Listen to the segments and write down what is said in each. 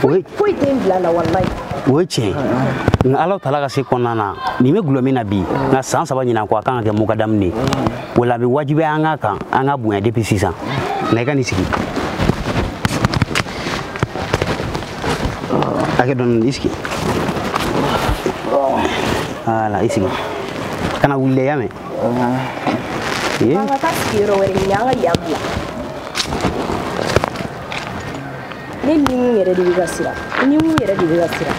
foyi tɛ n bila a la walayi o ye tiɲɛ ye nka alaw tala ka se kɔnɔna na nin bɛ gulɔ min na bi nka san saba ɲinan kɔ a kan ka kɛ mɔgɔ damu de ye o la a bɛ wajibiya an ka kan an ka bonya depuis sisan nka i ka nin sigi hakɛ dɔɔni i sigi wala i sigi kana wuli dɛ i y'a mɛn an ka taa sigiyɔrɔ wɛrɛ ɲini an ka yan bila ne ni mun yɛrɛ de bɛ ka siran ni mun yɛrɛ de bɛ ka siran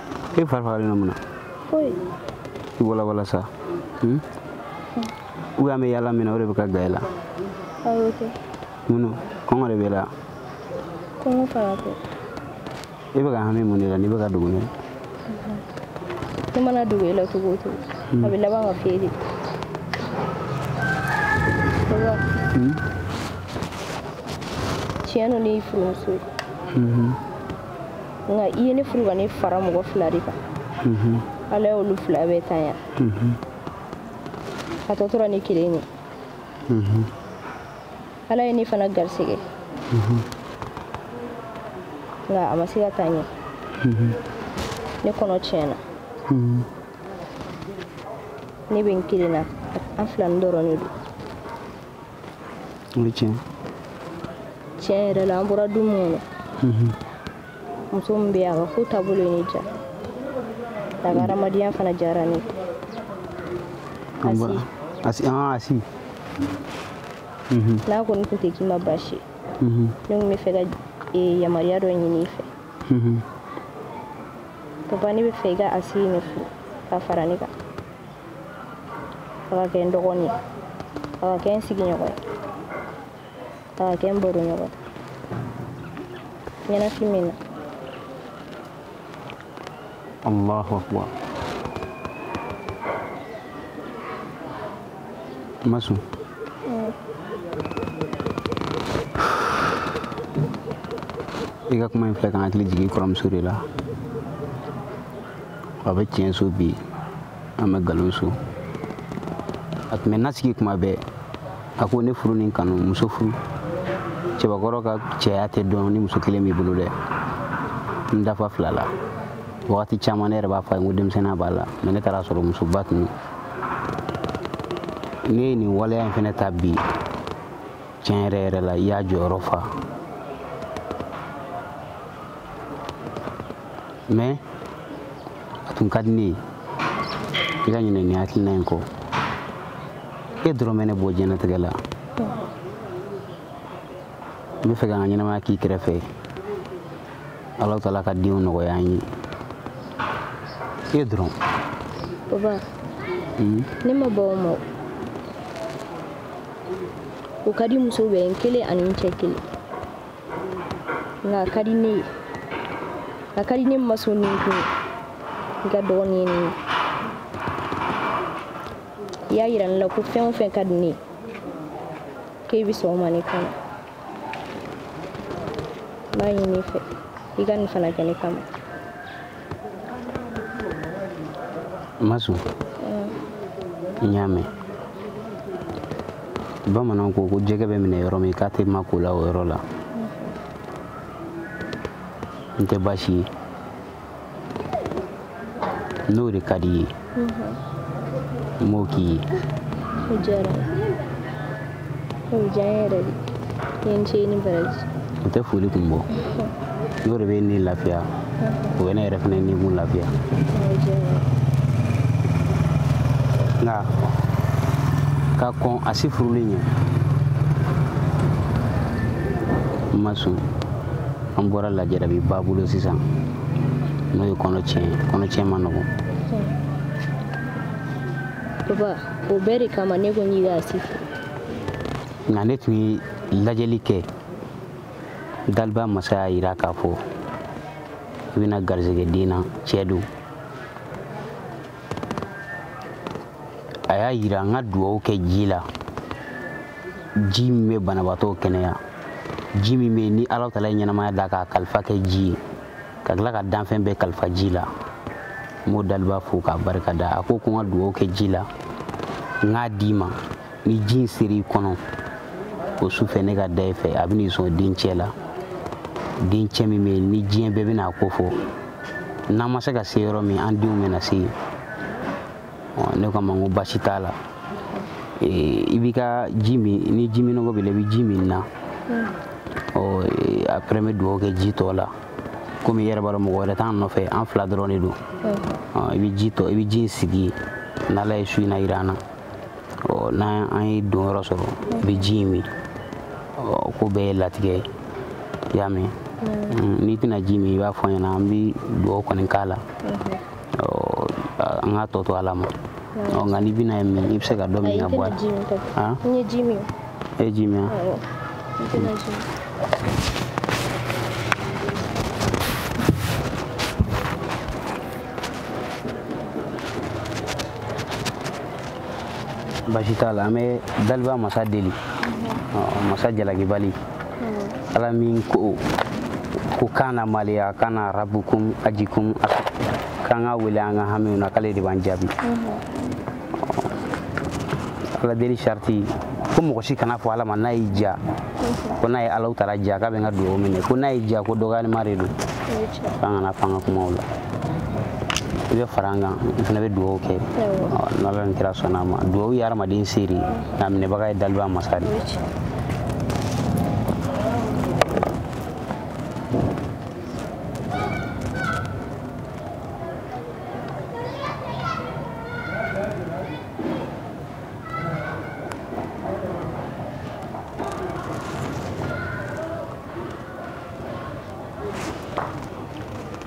e fari fagalen don mun na i walawala sa hmm? u y'an bɛ yaala min na o de bɛ ka gan e la mun kɔngɔ de b'e la i bɛ ka hami mun de la n'i bɛ ka dogo ne ne mana dogo e la cogo o cogo a bɛ laban ka feere tiɲɛ don ne y'i furumuso ye nka i ye ne furu ka ne fara mɔgɔ fila de kan mhm. ala y'olu fila bɛɛ ta yan mhm. a tɔ tora ne kelen ye mhm. ala ye ne fana garisɛgɛ nka a ma se ka taa ɲɛ ne kɔnɔ tiɲɛna ne bɛ n kelen na an fila nin dɔrɔn de don o ye tiɲɛ tiɲɛ yɛrɛ la an bɔra du minnu na mhm. muso min bɛ yen a ka ko taabolo ye ne diya a ka hadamadenya fana diyara ne ye asi asi ah, asi mhm. n'a kɔni tun tɛ k'i ma baasi mhm. ne tun bɛ fɛ ka e, yamaruya dɔ ɲini i fɛ papa ne bɛ fɛ i ka asi nin furu ka fara ne kan a ka kɛ n dɔgɔnin ye a ka kɛ n sigiɲɔgɔn ye a ka kɛ n baroɲɔgɔn ye ɲɛnafin bɛ n na allahu akbar ma sɔn i ka kuma in filɛ ka n hakili jigin kɔrɔmuso de la a bɛ tiɲɛso bi an bɛ nkalonso a tun bɛ n lasigi kuma bɛɛ a ko ne furu ni kanu muso furu cɛbakɔrɔ ka cɛya tɛ dɔn ni muso kelen b'i bolo dɛ n dafa fila la wagati caman ne yɛrɛ b'a fɔ a ye ko denmisɛnninya b'a la mais ne taara a sɔrɔ musoba tun don e ye nin waleya in fana ta bi tiɲɛ yɛrɛ yɛrɛ la i y'i jɔyɔrɔ fa mɛ a tun ka di ne ye i ka ɲinɛ nin hakilina in kɔ e dɔrɔn bɛ ne bɔ diɲɛnatigɛ la n b'a fɛ ka n ka ɲɛnamaya k'i kɛrɛfɛ ala taala ka denw nɔgɔya an ye e dɔrɔn ne ma bɔ o ma o ka di muso bɛɛ ye i kelen ani i cɛ kelen nka a ka di ne ye a ka di ne masu ni kun ye ka dɔgɔnin ɲini i y'a yira ne la ko fɛn o fɛn ka di ne ye k'e bɛ sɔn o ma ne kama n b'a ɲini i fɛ i ka nin fana kɛ ne kama masu n y'a mɛn bamananw ko ko jɛgɛ bɛ minɛ yɔrɔ min k'a tɛ ma ko la o yɔrɔ la n tɛ baasi ye n'o de ka di i ye n b'o k'i ye o diyara n ye o diya n yɛrɛ de i ni ce i ni baraji o tɛ foli kun bɔ n'o de b'i ni lafiya o bɛ ne yɛrɛ fana ni kun lafiya o diyara n ye nka ka kɔn asi furuli ɲɛ masu an bɔra lajarabi ba bolo sisan n'o ye kɔnɔtiɲɛ kɔnɔtiɲɛ ma nɔgɔ papa o bɛɛ de kama ne ko n y'i ka si nka ne tun ye lajɛli kɛ daliba masa y'a yira k'a fɔ i bɛna garizɛgɛ den na cɛ don a y'a yira n ka dugawu kɛ ji la ji min bɛ banabaatɔw kɛnɛya ji min bɛ ni ala taala ye ɲɛnamaya da k'a kalifa kɛ ji ye ka tila ka danfɛn bɛɛ kalifa ji la n b'o daliba fo k'a barika da a ko ko n ka dugawu kɛ ji la n k'a d'i ma ni ji in sera i kɔnɔ o su fɛ ne ka da i fɛ a bɛna i sɔn dencɛ la dencɛ min bɛ yen ni diɲɛ bɛɛ bɛna a ko fɔ n'an ma se ka se yɔrɔ min an denw bɛna se yen ne ko a ma n ko baasi t'a la i b'i ka ji min ni ji minnɔgɔ b'i la i bɛ ji min na après n bɛ dugawu kɛ ji tɔ la komi i yɛrɛ b'a dɔn mɔgɔ wɛrɛ t'an nɔfɛ an fila dɔrɔn de don i bɛ ji tɔ i bɛ ji in sigi n'ala ye su in na jira an na n'an ye don yɔrɔ sɔrɔ i bɛ ji in min ko bɛɛ ye latigɛ ye i y'a mɛn n'i tɛna ji min i b'a fɔ n ɲɛna an bɛ dugawu kɔni k'a la an k'a tɔ to ala ma nka n'i bɛna ye min i bɛ se ka dɔ min ka bɔ a la e ye ji min ye ji min basi t'a la an bɛ daliba masa deli masa jalakibali ala min ko ko kan na maliya kan na rabukum ajikum k'an k'a wele an ka hamiw na k'ale de b'an jaabi ala deli sariti ko mɔgɔ si kan'a fɔ ala ma n'a y'i diya ko n'a ye alahu taala diya k'a bɛ n ka dugawu minɛ ko n'a y'i diya ko dɔgɔyalima de don k'an kana fanga kumaw la i bɛ fara an kan n fana bɛ dugawu kɛ n'ala ni kira sɔnna a ma dugawu ye hadamaden se de nk'a minɛbaga ye daliba masa de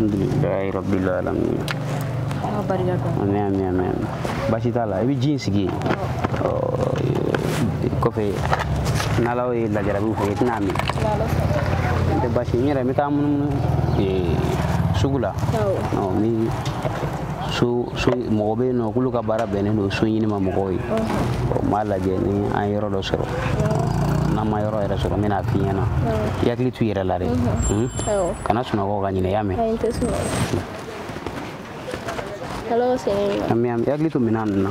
alhamdulilayi rabbil alamin Ala barika dɔn. ami ami ami ami baasi t'a la i bɛ ji in sigi yen ɔ, e, kɔfɛ n'ala ye lajarabiw fɔ i tɛna min n tɛ baasi n yɛrɛ n bɛ taa munumunu e, sugu la Awɔ. ɔ, n bɛ so so mɔgɔ bɛ yen nɔ k'olu ka baara bɛnnen don so ɲini ma mɔgɔw ye n b'a lajɛ ni an ye yɔrɔ dɔ sɔrɔ n'an ma yɔrɔ yɛrɛ sɔrɔ n bɛna a f'i ɲɛna i hakili to i yɛrɛ la dɛ mhm. hmm? kana sunɔgɔ ka ɲinɛ i y'a mɛn an bɛ yan i hakili to minɛn ninnu na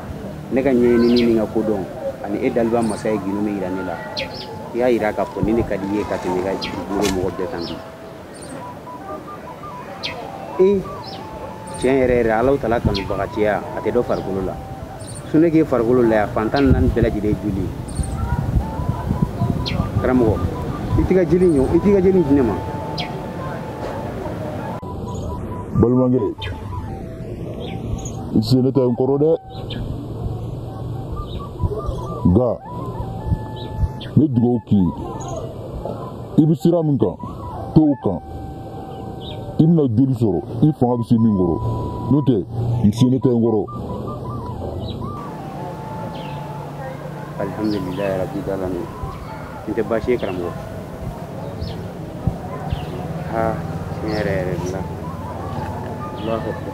ne ka ɲɛɲinini ni n ka kodɔn ani e daliba masa ye gundo min yira ne la i y'a yira k'a fɔ ni ne ka di i ye ka tɛmɛ i ka dugukolo mɔgɔ bɛɛ kan bi e tiɲɛ yɛrɛ yɛrɛ alahu taala kanubagatiya a tɛ dɔ farikolo la sunu k'e farikolo la yan fan tan ni naani bɛɛ lajɛlen joli karamɔgɔ i t'i ka jeli ɲɔ i t'i ka jeli di ne ma balimakɛ n sene tɛ n kɔrɔ dɛ nka n bɛ dugawu k'i ye i bɛ sira min kan to o kan i bɛna joli sɔrɔ i fanga bɛ se min kɔrɔ n'o tɛ n sene tɛ n kɔrɔ. alhamdulilayi rabil alamin nin tɛ baasi ye karamɔgɔ ha tiɲɛ yɛrɛ yɛrɛ de la allahu akbar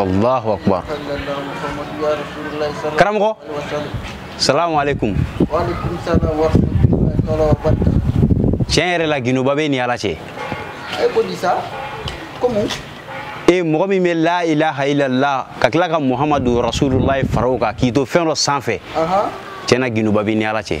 Allahu akbar karamɔgɔ salamu alaikum tiɲɛ yɛrɛ la gindo ba b'i ni ala cɛ e mɔgɔ min bɛ la ilaha illallah ka tila ka muhamadu rasulullah fara o kan k'i to fɛn dɔ sanfɛ tiɲɛ na gindo ba b'i ni ala cɛ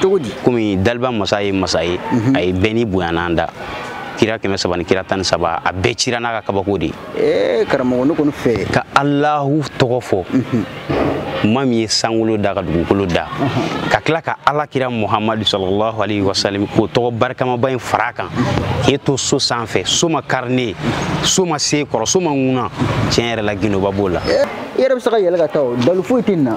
cogo di komi daliba masa ye masa ye mhm. a ye bɛɛ ni bonyanan da kira kɛmɛ saba ni kira tan ni saba a bɛɛ cira n'a ka kabako de ye eh, karamɔgɔ ne kɔni fɛ ka alahu tɔgɔ fɔ mhm. ma min ye sankolo da ka dugukolo da mhm. ka tila ka ala kira muhamadu salalahu alayhi wa salam k'o tɔgɔ barikamaba in fara kan k'i to so sanfɛ so ma kari ne so ma se kɔrɔ so ma ŋuna tiɲɛ yɛrɛ la gindoba b'o la eh, i yɛrɛ bɛ se ka yɛlɛn ka taa o dalu foyi tɛ nin na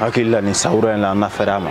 hakili la nin sawura in la an na fɛɛrɛ a ma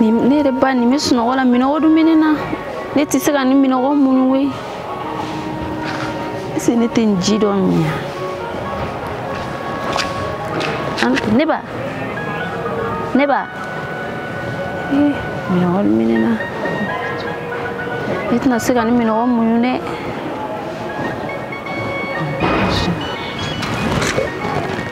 ne yɛrɛ ba nin bɛ sunɔgɔ la minɔgɔ dun bɛ ne na ne tɛ se ka nin minɔgɔ muɲu we ɛseke ne tɛ nin ji dɔ min ya ne ba ne ba ee minɔgɔ dun bɛ ne na ne tɛna se ka nin minɔgɔ muɲu dɛ.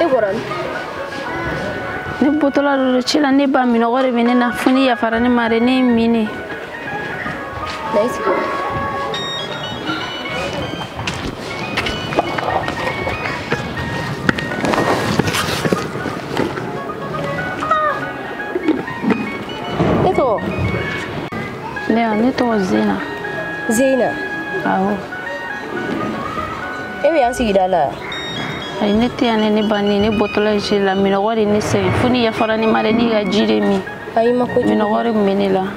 e bɔra min ne bɔtɔla don ci la ne ba minɔgɔ de bɛ ne na fo n'i yafara ne ma dɛ ne y'a min ne E tɔgɔ? Ne wa, ne tɔgɔ Zena. Zena? Awɔ. E bɛ yan sigida la? Ayi, ne tɛ yan ne ne ba ne ne bɔtɔla ci la minɔgɔ de ne sɛgɛn fo n'i yafara ne ma dɛ ne ka ji de min. Ayi, ma ko jugu. Minɔgɔ de tun bɛ ne la.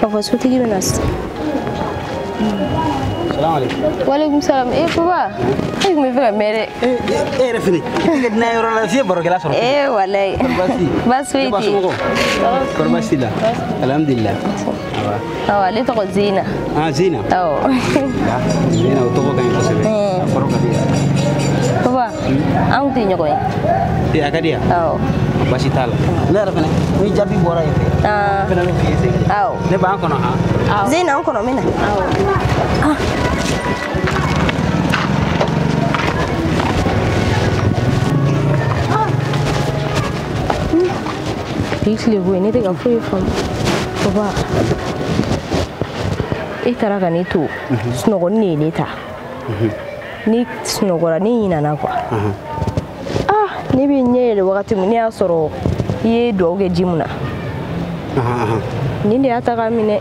ka fɔ sotigi bɛna se salamaleykum waleykum salam e papa e tun bɛ fɛ ka mɛn dɛ e yɛrɛ fana i ka dunan yɔrɔ la f'i ye barokɛla sɔrɔ ee walayi baasi foyi tɛ yen kɔrɔ baasi la alhamdulilayi Awa ne tɔgɔ Zina. Ah Zina. Awɔ. Zina o tɔgɔ ka ɲi kosɛbɛ. A kɔrɔ ka di yan. Papa, anw tɛ ɲɔgɔn ye. Ee a ka di yan. Awɔ. Baasi t'a la. Ne yɛrɛ fana ni jaabi bɔra yen fɛ. Aa. Fana bɛ fiyɛ segin. Awɔ. Ne b'an kɔnɔ han. Awɔ. Zina an kɔnɔ min na. Awɔ. Ah. k'i tile bɔ yen ne tɛ ka foyi faamu baba e taara ka ne to mhm. sunɔgɔ de ye ne ta mhm. ne sunɔgɔra ne ɲinana kuwa mhm. ah ne bɛ ɲɛ yɛlɛ wagati min ne y'a sɔrɔ i ye dugawu kɛ ji min na nin de y'a ta k'a min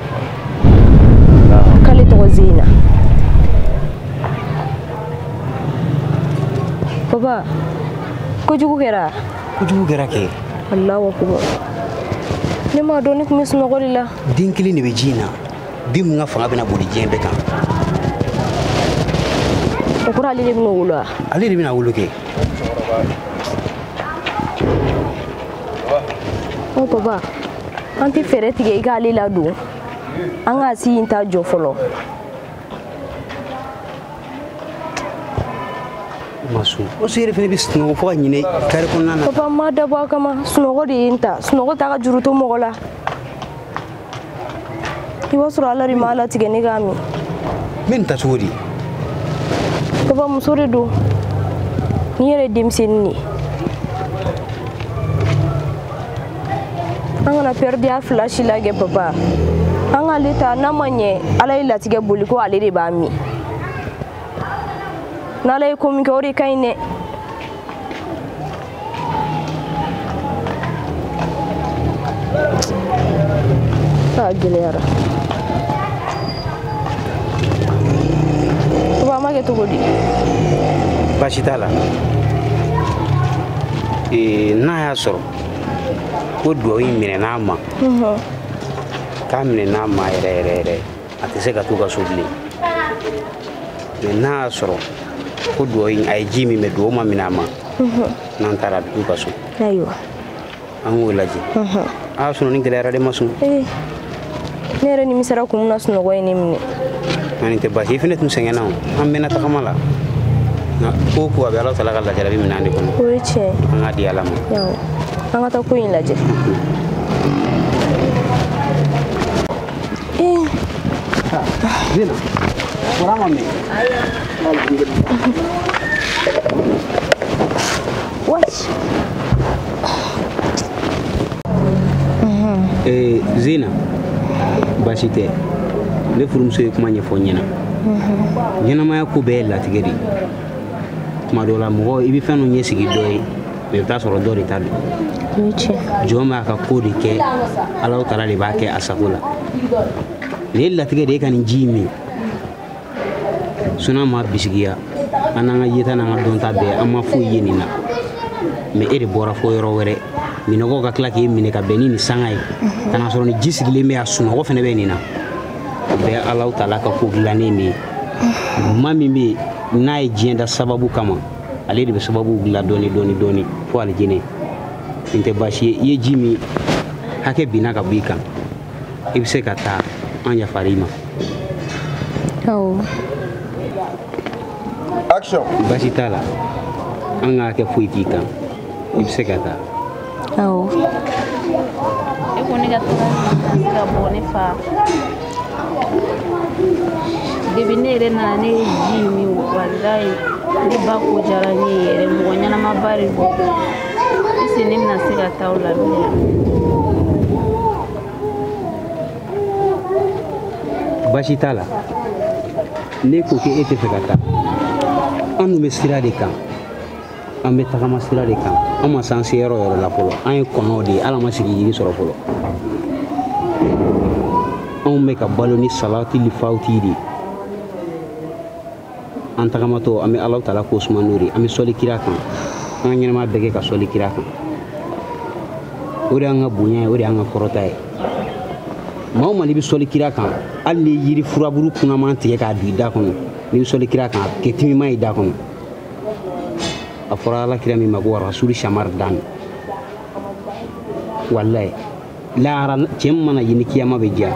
k'ale tɔgɔ zina baba kojugu kɛra kojugu kɛra kɛ alahu akubar ne m'a dɔn ne tun bɛ sunɔgɔ de la den kelen de bɛ ji in na den min ka fanga bɛna boli diɲɛ bɛɛ kan o kɔrɔ ale de bɛna wolo wa ale de bɛna wolo kɛ o papa an tɛ fɛɛrɛ tigɛ i k'ale ladon an k'a si in ta jɔ fɔlɔ masun o siri fana bɛ sunɔgɔ fo ka ɲinɛ kari kɔnɔna na papa m'a dabɔ a kama sunɔgɔ de ye n ta sunɔgɔ t'a ka juru to mɔgɔ la i b'a sɔrɔ ala de m'a latigɛ ne k'a min n bɛ nin ta cogo di papa muso de don nin yɛrɛ denmisɛnnin de ye an kana pɛridi a fila si la kɛ papa an k'ale ta n'a ma ɲɛ ala y'a latigɛ boli ko ale de b'a min n'ala ye ko min kɛ o de ka ɲi dɛ a gɛlɛyara papa an b'a kɛ cogo di baasi t'a la n'a y'a sɔrɔ ko dugawu in minɛn'a ma k'a minɛn'a ma yɛrɛ yɛrɛ yɛrɛ a tɛ se ka t'u ka so bilen mɛ n'a y'a sɔrɔ ko dugawu in a ye ji min mɛ dugawu ma minɛ a ma n'an taara a bɛ t'u ka so an k'o lajɛ a y'a sɔrɔ nin gɛlɛyara dɛ masun ne yɛrɛ nimisara ko mun na sunɔgɔ ye ne minɛ nka nin tɛ basi i fɛnɛ tun sɛgɛnna o an mɛnna tagama la nka ko o ko a bɛ alahu taala ka lajarabi minɛn de kɔnɔ o ye tiɲɛ an k'a di ala ma an ka taa ko in lajɛ Zina, bɔra ma mɛn. Wace? Eh, zina baasi tɛ ne furumuso ye kuma ɲɛfɔ ɲɛna ɲɛnamaya ko bɛɛ ye latigɛ de ye tuma dɔ la mɔgɔ i bɛ fɛn dɔ ɲɛsigi dɔ ye mɛ i bɛ taa sɔrɔ dɔ de ta don O ye tiɲɛ. jɔn b'a ka ko de kɛ alahu taala de b'a kɛ a sago la nin ye latigɛ de ye i ka nin ji in min suna ma bisigiya an n'an ka yeta n'an ka dɔnta bɛɛ an ma foyi ye nin na mɛ e de bɔra fo yɔrɔ wɛrɛ minɔgɔ ka tila k'e minɛ ka bɛn ni nin sanga ye ka na sɔrɔ nin ji sigilen bɛ yan sunɔgɔ fana bɛ nin na o bɛɛ alahu taala ka ko dilannen de ye maa min bɛ yen n'a ye diɲɛ da sababu kama ale de bɛ sababu dilan dɔɔni dɔɔni dɔɔni fo alijinɛ nin tɛ baasi ye i ye ji min hakɛ binna ka bɔ i kan i bɛ se ka taa an yafara i ma basi t'a la an k'a kɛ foyi t'i kan i bɛ se ka taa awɔ e ko ne ka to ka bɔ ne fa debi ne yɛrɛ nana ne ye ji min walayi ne ba ko diyara ne ye yɛrɛ mɔgɔ ɲɛnamaba de don ese ne bɛna se ka taa o la bilen basi t'a la n'e ko k'e t'a fɛ ka taa an dun bɛ sira de kan an bɛ tagama sira de kan an ma s'an se yɔrɔ yɔrɔ la fɔlɔ an ye kɔnɔw de ye ala ma sigi yiri sɔrɔ fɔlɔ anw bɛ ka balo ni salatili fatihi de ye an tagamatɔ an bɛ alahu taala ko suma n'o tɛ an bɛ sɔli kira kan an ka ɲɛnama bɛɛ kɛ ka sɔli kira kan o de y'an ka bonya ye o de y'an ka kɔrɔta ye maa o maa n'i bɛ sɔli kira kan hali ni yiri furaburu kunaman tigɛ k'a don i da kɔnɔ n'i bɛ sɔli kira kan a bɛ kɛ timiman ye i da kɔnɔ a fɔra ala kira min ma ko rasulu samadani walayi lahara cɛ mana ye ni kiyama bɛ diya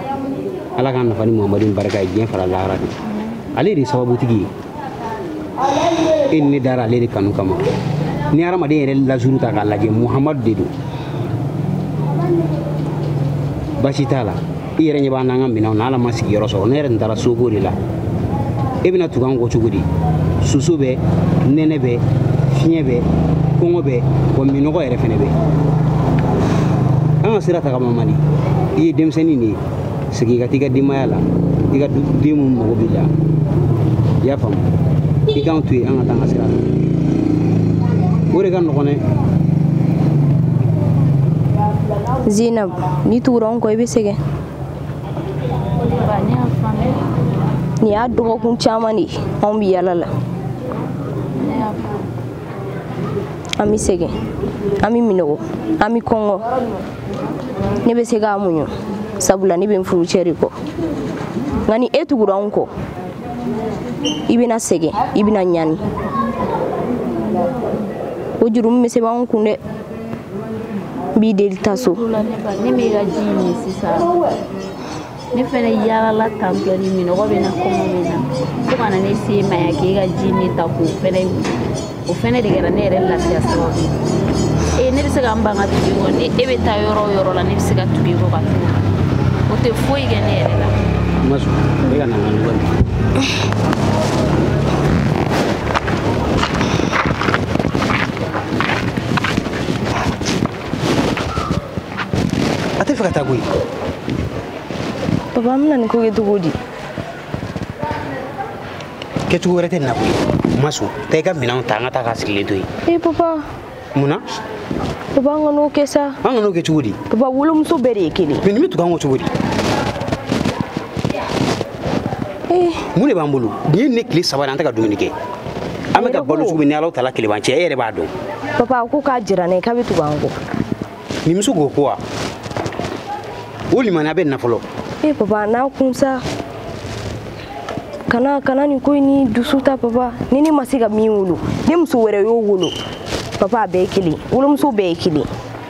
ala k'an nafa ni muhamadu nin barika ye diɲɛ fara lahara de ale de ye sababutigi ye e ni ne dara ale de kanu kama ni hadamaden yɛrɛ lazuru ta k'a lajɛ muhamadu de don basi t'a la i yɛrɛ ɲɛ b'an n'an ka minɛnw na ala ma sigiyɔrɔ sɔrɔ ne yɛrɛ tun taara soko de la e bɛna tugu an kɔ cogo di soso bɛ nɛnɛ bɛ fiɲɛ bɛ kɔngɔ bɛ wa minɔgɔ yɛrɛ fɛnɛ bɛ an ka sira tagama man di i ye denmisɛnnin de ye segin ka t'i ka denbaya la i ka den minnu mago b'i la i y'a faamu i k'an to yen an ka taa an ka sira la o de ka nɔgɔn dɛ zinabu n'i tugura anw kɔ i bɛ sɛgɛn nin y'a dɔgɔkun caman de ye anw bɛ yala la an bɛ sɛgɛn an bɛ minɔgɔ an bɛ kɔngɔ ne bɛ se k'a muɲu sabula ne bɛ n furucɛ de kɔ nka ni e tugura anw kɔ i bɛna sɛgɛn i bɛna ɲani o jurumu bɛ se anw kun dɛ n b'i deli taa so ne b'i ka ji min sisan ne fɛnɛ yaalala tantɔ ni minɔgɔ bɛ n na kɔngɔ bɛ n na fo ka na ne se e ma yan k'e ka ji min ta k'o fɛnɛ o fɛnɛ de kɛra ne yɛrɛ lafiya sababu ye ne bɛ se ka n ban ka tugu i kɔ ni e bɛ taa yɔrɔ o yɔrɔ la ne bɛ se ka tugu i kɔ ka tugu o tɛ foyi kɛ ne yɛrɛ la. ma sɔn e ka na n ka ɲɔgɔn a t'a fɛ ka taa koyi papa an bɛna nin ko kɛ cogo di kɛcogo wɛrɛ tɛ nin na koyi ma sɔn taa i ka minɛnw ta an ka taa k'a sigilen to yen ee papa mun na papa an kan'o kɛ sa an kan'o kɛ cogo di papa wolomuso bɛɛ de ye kelen mɛ nin bɛ tugu an kɔ cogo di mun de b'an bolo nin ye ne tile saba de an tɛ ka dumuni kɛ an bɛ ka balo cogo min ni ala tala kelen b'an cɛ e yɛrɛ b'a dɔn papa ko k'a jira ne k'a bɛ tugu an kɔ nin muso k'o ko wa o limaniya bɛ n na fɔlɔ e papa n'a kun sa kana kana nin ko ni dusu ta papa ni ne ma se ka min wolo ni muso wɛrɛ y'o wolo papa a bɛɛ ye kelen wolomuso bɛɛ ye kelen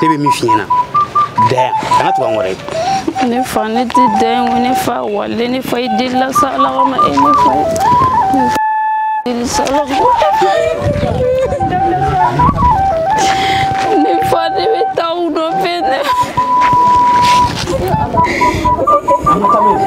ne bɛ min f'i ɲɛna dɛn kana tugu an kɔrɔ ye ne fa ne tɛ dɛn ko ne fa walayi ne fa i delila sa ala kama e ne fa ne fa deli sa ala ka ne fa ne bɛ taa u nɔfɛ ne an ka taa n'o ye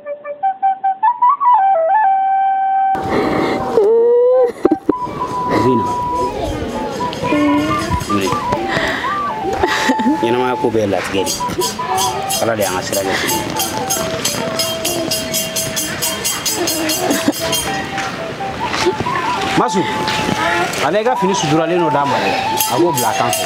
Zina. Wuli. Ɲɛnamaya ko bɛɛ latigɛ de. Ala de y'an ka sira ɲɛsin. Masu, a bɛ i ka fini suturalen dɔ d'a ma dɛ. A b'o bila a kan fɛ.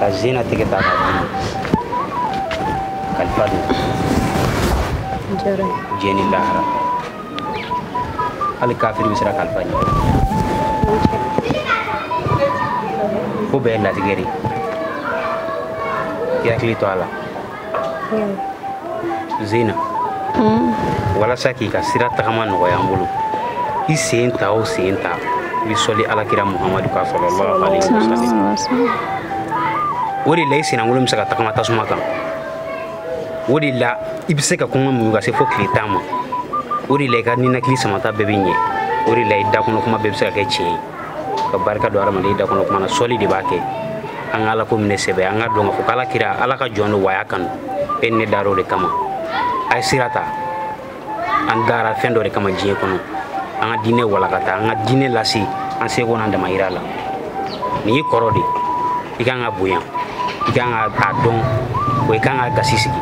ka zena tigɛ ta ka dun kalifa don diɲɛ ni lahara hali kafiri bɛ siran kalifa ɲɛ ko bɛɛ ye latigɛ de ye i hakili to a la zeyina walasa k'i ka sira tagama nɔgɔya an bolo i sen ta o sen ta i bɛ sɔli ala kira muhamadu kan salalahu alayhi wa sallam o de la i senlankolon bɛ se ka tagama tasuma kan o de la i bɛ se ka kɔngɔ muɲu ka se fo tile tan ma o de la i ka ninakili samata bɛɛ bɛ ɲɛ o de la i dakɔnɔ kuma bɛɛ bɛ se ka kɛ tiɲɛ ye ka barika don adamaden da kɔnɔ kuma na sɔli de b'a kɛ an ka ala ko minɛ sɛbɛ an k'a dɔn ka fɔ k'ala kira ala ka jɔn don wa a y'a kanu e ni ne dara o de kama a ye sira ta an dara fɛn dɔ de kama diɲɛ kɔnɔ an ka diinɛ walankata an ka diinɛ lase an seko n'an damayira la nin y'i kɔrɔ de ye i kan k'a bonya i kan ka a dɔn wa i kan k'a gasi sigi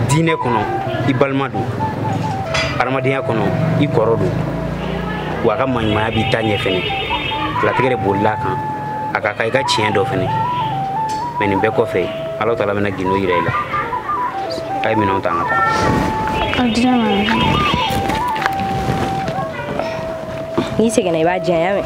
diinɛ kɔnɔ i balima don hadamadenya kɔnɔ i kɔrɔ don wa a ka maɲumanya b'i ta ɲɛ fɛnɛ latigɛ de bolila a kan a kan ka i ka tiɲɛ dɔ fɛnɛ mɛ nin bɛɛ kɔfɛ ala taala bɛna gindo yira i la a ye minɛnw ta an ka taa n'i seginna i b'a di yan y'a mɛn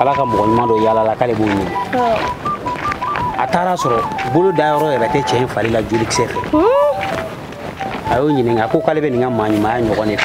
ala ka mɔgɔ ɲuman dɔ yaalala k'ale b'o ɲini a taara a sɔrɔ bolo da yɔrɔ yɛrɛ tɛ cɛ in fari la jolikisɛ fɛ a y'o ɲininka a ko k'ale bɛ nin ka maa ɲumanya ɲɔgɔn de fɛ